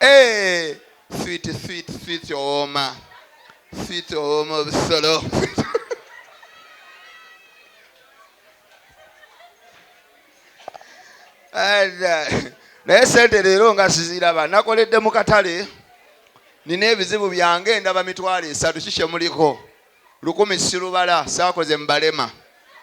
Eh, sweet sweet sweet owooma sweet owooma obusolo naye sente leero nga siziraba nakoledde mu katale nina ebizibu byange ndaba mitwalo esatu kikyemuliko Lukumi sirubala saakoze mu balema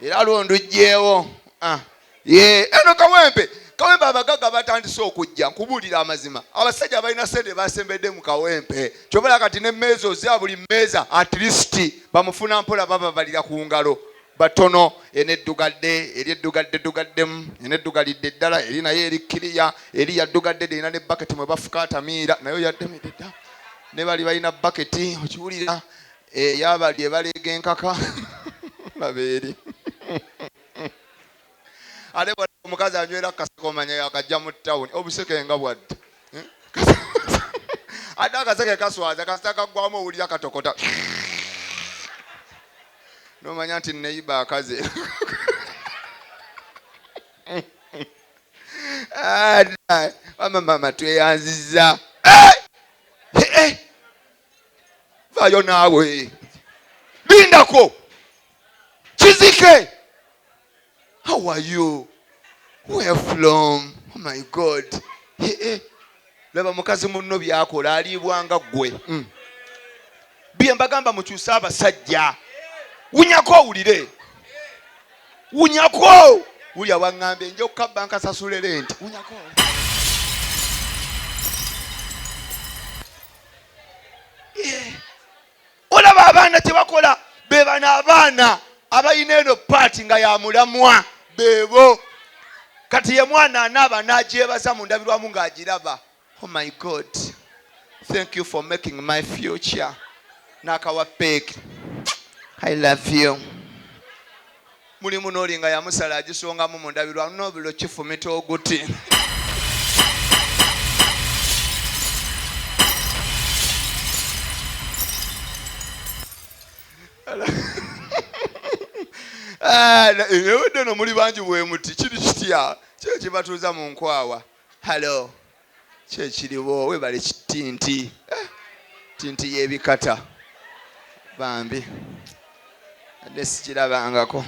era lwo ndugyewo. Ah, yee eno kawempe kawempe abagagga batandise okujja nkubuulira amazima abasajja abalina sente basembedde mu kawempe kyobala kati ne meeza ozya buli meeza at least bamufuna mpola bababalira ku ngalo batono eno eddugadde eri eddugadde ddugaddemu eno eddugalidde ddala eri naye eri kiriya eri yaddugadde derina ne baketi mwe bafuka atamiira naye oyaddemedde dda ne bali balina baketi okiwulira Eyo abalya ebaleega enkaka laba eri. Ate bw'olaba omukazi anywera ku kaseke omanya yakajja mu ttawuni. Obuseke nga bwadda. Ate akaseke kaswaza kasita kaggwamu owulira katokota n'omanya nti neyiba akaze. Wama maama tweyanzizza. vayo naawe lindako kizike how are you where from oh my god eh, eh. laba mukazi munno byakola aliibwanga ggwe mm. bye mbagamba mukyuse abasajja wunyako owulire wunyako wulya waŋŋambye nja okukabba nkasasule lenti wunyako eh, olaba abaana kyebakola bebano abaana abalina eno paati nga yamulamwa bebo kati ye mwana anaaba nagyebaza mu ndabirwamu ng'agiraba oh my god thank you for making my future nakawa peeki i love you Mulimu n'oli nga yamusala agisongamu mu ndabirwamu n'obuliro kifumita oguti. Ewedde no muli bangi bwemuti kiri kitya kyo kibatuuza mu nkwawa. Hello. kyekiriwo webale kitinti eh, tinti yebikata bambi adde sikirabangako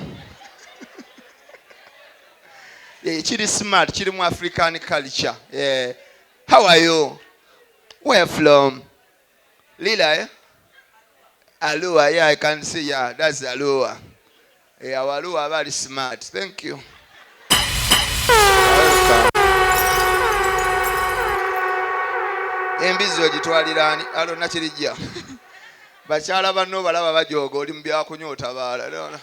eh, kiri smart kiri mu african culture yeah. how are you where from Lila eh? Alua, yeah, I can see, yeah, that's Alua. Hey, eh, our Alua very smart. Thank you. Embizi ogitwalira ani? Alo nakirijja. Bakyala banno balaba bajooga oli mu byakunywa otabaala.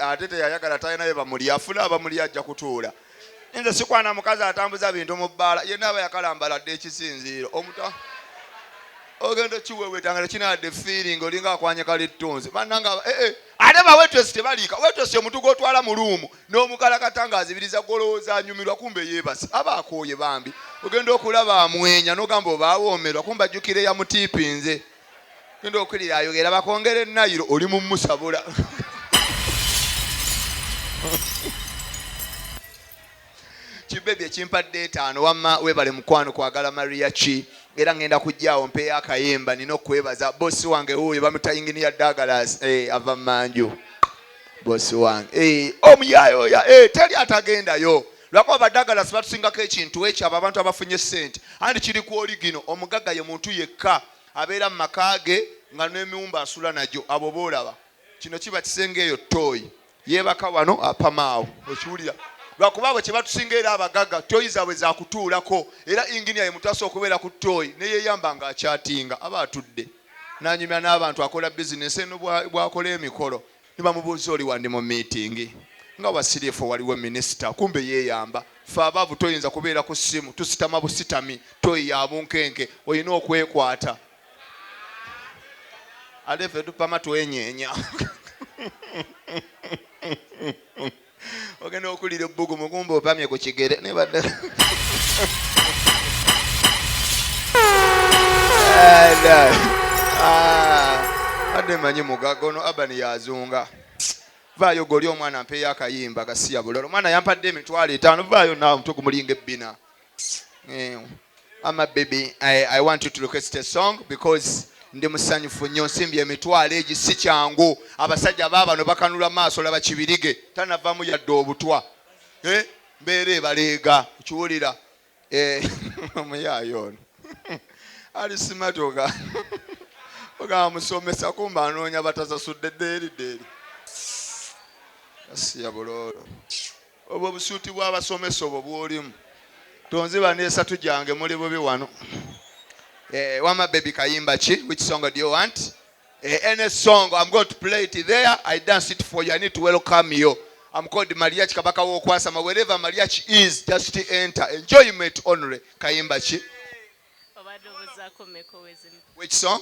Ate teyayagala talinayo bamulya afuna abamulya ajja kutuula. nze sikwana mukazi atambuza bintu mu bbaala yenna aba yakalambala dde ekisinziiro omuta ogenda okiwewetanga tekinadde feeling olinga akwanye kalittunzi bannanga ee eh, eh. ate bawetesi tebaliika wetesi omuntu gwotwala mu luumu n'omukalakata nga azibiriza golowooza anyumirwa kumbe yeebase aba akooye bambi ogenda okulaba amwenya n'ogamba oba awoomerwa kumbe ajjukire yamutiipinze genda okulira ayogera bakwongere nayiro oli mumusabula kibebi ekimpadde etaano wamma webale mukwano kwagala maria ki era ngenda kujjaawo mpeeyo akayimba nina okwebaza bosi wange wuuyo bamuta inginiya dagalas hey, eh, ava manju bosi wange hey, eh, omuyayoya hey, eh, teri atagendayo lwakuba badagala sibatusingako ekintu ekyo abo abantu abafunye sente andi kiri ku oligino omugaga ye muntu yekka abeera mu maka ge nga nemiwumba asula nagyo abo boolaba kino kiba kisenge eyo tooyi yeebaka wano apamaawo okiwulira lwakuba abo kyebatusinga era abagaga tooyi zaabwe zakutuulako era inginia ye muntu asobola okubeera ku tooyi neyeyamba nga akyatinga aba atudde nanyumya n'abantu akola bizinesi eno bwakola emikolo ne bamubuuza oli wandi mu miitingi nga wasirifu waliwo minisita kumbe yeeyamba ffe abaavu toyinza kubeera ku ssimu tusitama busitami toyi ya bunkenke olina okwekwata ate ffe tupama twenyeenya ogenda okulira ebbugu mugumba opamye ku kigere nebadde badde manyi mugaga ono abani yazunga vaayo goli omwana mpeeyo akayimba gasiya bulala omwana yampadde emitwalo etaano vaayo naawe mutwe gumulinga ebbina Eh, ama baby I, I want you to request a song because ndi musanyufu nnyo nsimbi emitwalo egi si kyangu abasajja baabano bakanula maaso laba kibirige tanavamu yadde obutwa eh, mbeera ebaleega kiwulira eh, omuyaayo ono alisimatoga ogamba musomesa kumba anoonya batasasudde deeri deeri asiya buloolo Obwo busuuti bwa basomesa obwo bwolimu tonziba nesatu jange muli bubi wano eh, wama baby kayimba ki which song do you want eh, any song I'm going to play it there I dance it for you I need to welcome you I'm called Mariachi kabaka wokwasama wherever Mariachi is just enter enjoyment only kayimba ki which song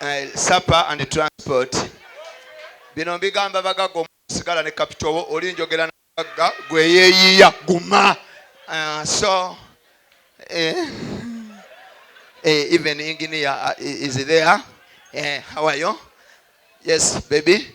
eh, supper and transport bino mbigamba bagagga omusigala ne kapito wo oli njogera na bagagga gweyeyiya guma uh, so eh, eh, even engineer uh, is there eh, how are you yes baby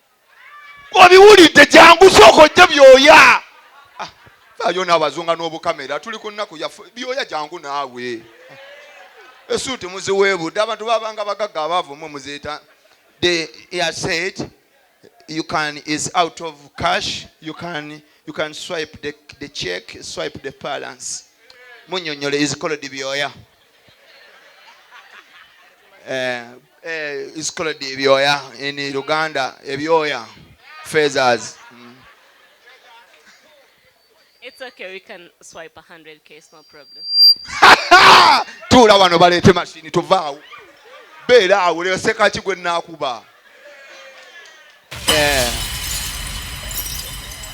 obiwulidde jangu sooka ojje byoya ah, faayo n'abazunga n'obukamera tuli ku nnaku yaffe byoya jangu naawe esuuti muziweebudde abantu babanga bagagga abaavu mwe muzeeta the air said you can is out of cash you can you can swipe the, the check swipe the balance munyonyole is called byoya eh, eh, is called ebyoya in Uganda ebyoya feathers mm. It's okay, we can swipe 100k, it's no problem. tuula wano baleete mashini tuvaawo beera awo leseka ki gwe naakuba eh.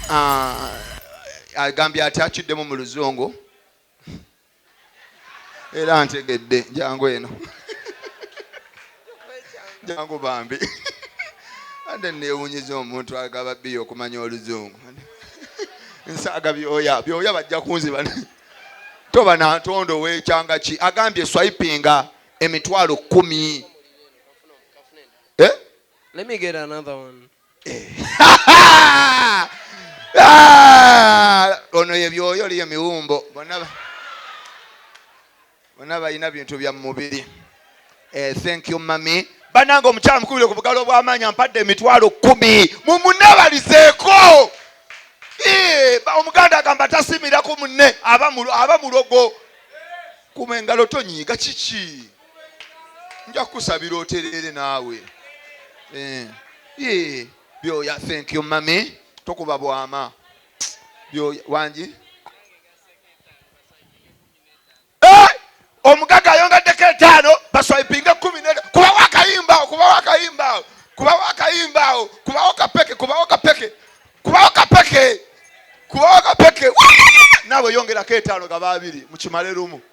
ah, agambye ati akiddemu mu luzungu era ntegedde njangu eno njangu bambi ande newunyiza omuntu agaba biyo okumanya oluzungu nsaaga byoya byoya bajja kunziba toba nantondo wekyanga ki agambye swipinga emitwalo kumi eh? Let me get another one. Ah! ono ye byoyo liyo miwumbo bona balina bintu bya mumubiri eh, thank you mami banange omukyala mukubire ku bugalo bwamaanyi ampadde emitwalo kumi mumunabalizeeko eh, omuganda agamba tasimira ku munne aba mulogo kuma engalo tonyiiga kiki nja kukusabira otereere naawe eh, eh, byoya thank you mami tokuba bwama byoya wangi eh, omugaga ayongaddeko etaano baswaipinga kumi ne kubawo akayimbaawo kubawo akayimbaawo kubawo akayimbaawo kubawo kapeke kubawo kapeke kubawo kapeke kubawo kapeke naawe yongerako etaano gaba abiri mukimale lumu